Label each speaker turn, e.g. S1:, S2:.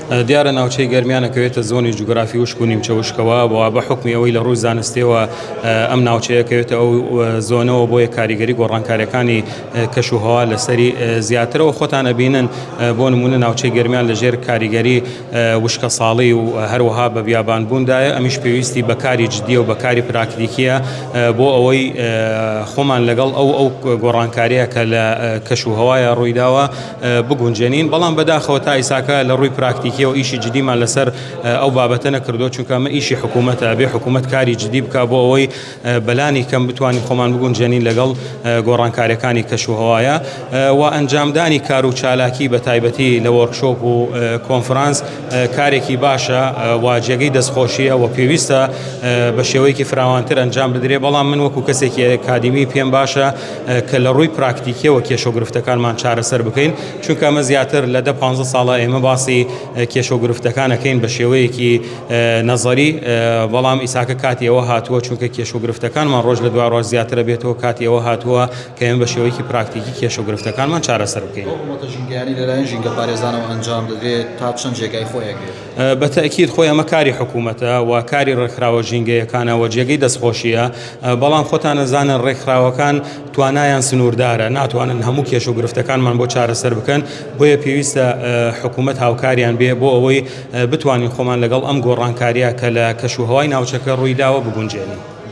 S1: دیارە ناوچەی گەرمیان نەکەوێتە زۆنی جوگرافی وشک و نیمچە وشکەوە بۆ بە حکمی ئەوەی لە ڕووی زانستیەوە ئەم ناوچەیەکەوێتە ئەو زۆنەوە بۆیە کاریگەری گۆڕانکاریەکانی کەش و هەوا لەسەری زیاترەوە خۆتان ئەبینن بۆ نمونە ناوچەی گەرمیان لەژێر کاریگەری وشکە ساڵی و هەروەها بە بیابان بووندایە ئەمیش پێویستی بەکاری جددیە و بەکاری پراکتیکیە بۆ ئەوەی خۆمان لەگەڵ ئەو ئەو گۆڕانکاریە کە لە کەش و هەوایە ڕوویداوە بگونجێنین بەڵام بەداخەوە تا ئیساکە لە ڕووی پراکتیکیەوە ئیشی جدیمان لەسەر ئەو بابەتە نەکردو چونکە مە ئیشی حکوومەتە بێ حکوومەت کاری جدی بک بۆ ئەوەی بەلانی کەم بتوانین خۆمان بگونجێنین لەگەڵ گۆڕانکارەکانی کەش و هەوایە و ئەنجامدانی کار و چالاکی بە تایبەتی لە وۆرکشۆپ و کۆنفرانس کارێکی باشە و جێگەی دەستخۆشیە و پێویستە بە شێوەیەکی فراوانتر ئەنجام بدرێ بەڵام من وەکو کەسێکی کادیمی پێم باشە کە لە ڕووی پراکتیکیەوە کێشە و گرفتەکانمان چارەسەر بکەین چونکە ئەمە زیاتر لە دە پ ساڵە ئێمە باسی کێشە و گرفتەکانەکەین بە شێوەیەکی نەزەری بەڵام ئیساکە کاتیەوە هاتووە چونکە کێش و گرفتەکانمان ڕۆژ لە دوای ڕۆژ زیاترە بێتەوە کاتیەوە هاتووە کە ئێمە بە شێوەیەکی پراکتیکی کێش و گرفتەکانمان چارەسەر بکەین ژینگەپارێزانەوە
S2: ئەنجام دەدرێت تا چەند جێگای خۆیەگرێت بە تەئکید خۆی ئەمە
S1: کاری حکوومەتە و کاری ڕێکخراوە ژینگەیەکانە و جێگەی دەستخۆشیە بەڵام خۆتان نەزانە ڕێکخراوەکان توانایان سنووردارە ناتوانن هەموو کێش و گرفتەکانمان بۆ چارەسەر بکەن بۆیە پێویستە حکوومەت هاوکاریان بێ بۆ ئەوەی بتوانین خۆمان لەگەڵ ئەم گۆڕانکاریە کە لە کەش و هەوای ناوچەکە ڕوویداوە بگونجێنین.